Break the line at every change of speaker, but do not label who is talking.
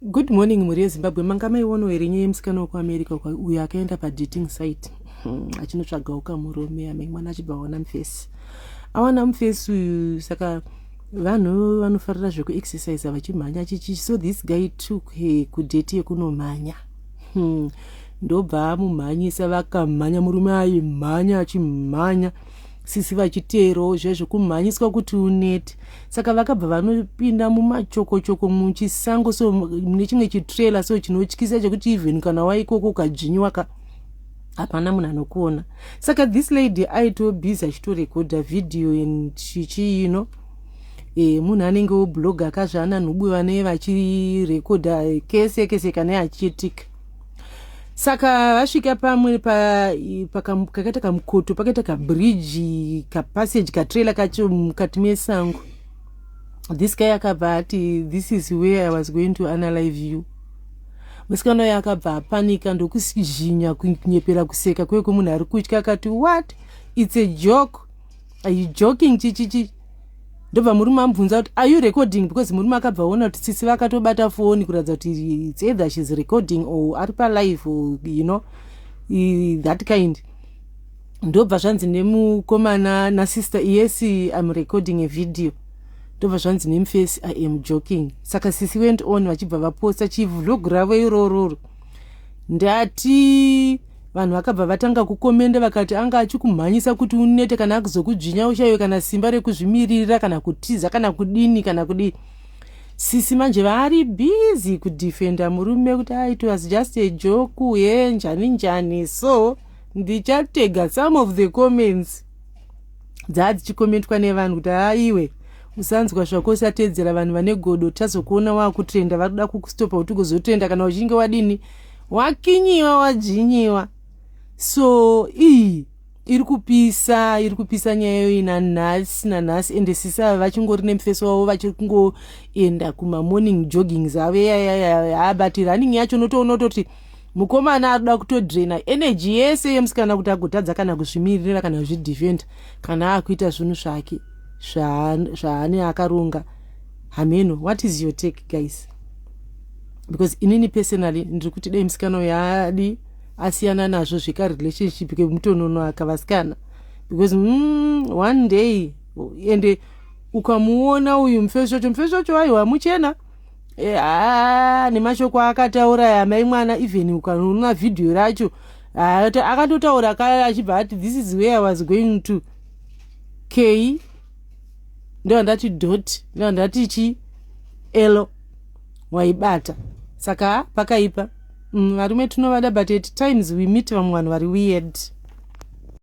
Good morning mhuri yeZimbabwe manga maiono here nyaya yemusikana wekuAmerica uyo akaenda padating site hmm, achinotsvaga uka murume amai mwana achibva aona mufesi awana mufesi uyu saka vanhu vanofarira zvekuexercise vachimhanya chichi so this guy took her kudate yekunomhanya hmm, ndobva amumhanyisa vakamhanya murume aimhanya achimhanya Sisi vachiteerawo zviya zvekumhanyiswa kuti unete saka vakabva vanopinda mumachokochoko muchisango so mune chimwe chitrailer so chinotyisa chekuti even kana waikoko ukadzvinyiwa ka hapana munhu anokuona saka this lady aito busy achitorekodha video and chichii you know e, munhu anenge wobloga kazvaana nhubu vane vachirekodha kese kese kana achiitika saka vasvika pamwe pa- i- pakam- kakaita kamukoto pakaita kabridge kapassage katrailer kacho mukati mesango this guy akabva ati this is where i was going to analyze you musikana uyo akabva apanika ndokuzhinya kunyepera kuseka kweye kwemunhu ari kutya akati what its a joke are you joking chichichi ndobva murume amubvunza kuti are you recording because murume akabva aona kuti tsitsi vakatobata foni kuratidza kuti its either shes recording or ari palife or you know that kind ndobva zvanzi nemukomana nasister yes im recording a video ndobva zvanzi nemufesi i am joking saka sisi went on vachibva vaposta chivlog ravo irororo ndati Vanhu vakabva vatanga kukomenda vakati anga achikumhanyisa kuti unete kana akuzokudzvinya ushaiwe kana simba rekuzvimiririra kana kutiza kana kudini kana kudii. Sisi manje vari busy kudefenda murume kuti ah, it was just a joke ye njani njani so ndichatega some of the comments dzaa dzichikomentwa nevanhu kuti haa iwe usanzwa zvako usatedzera vanhu vane godo tazokuona wakutrenda vari kuda kukustopa kuti ugozotrenda kana uchinge wadini wakinyiwa wadzvinyiwa so iyi iri kupisa iri kupisa nyaya iyoyi nanhasi nanhasi ende sisi ava vachingori nemufeso wavo vachiri kungoenda kumamorning joggings avo yayayaya but running yacho unotoona utoti mukomana arikuda kutodrena energy yese yemusikana kuti agotadza kana kuzvimiririra kana kuzvidefenda kana akuita zvinhu zvake zvaane akaronga hameno what is your take guys because inini personally ndiri kuti dai musikana uyo adi asiyana nazvo zveka relationship kemutononoaka vasikana because mm, one day ende ukamuona uyu mufesi wacho mufesi wacho aiwa muchena e, a, nemashoko akataura amai mwana even ukaona vhidhiyo racho akatotaura kaya achibva ati this is where i was going to key ndovandati dot ndovandati chi elo waibata saka pakaipa mm, varume tinovada but at times we meet vamwe vanhu vari weird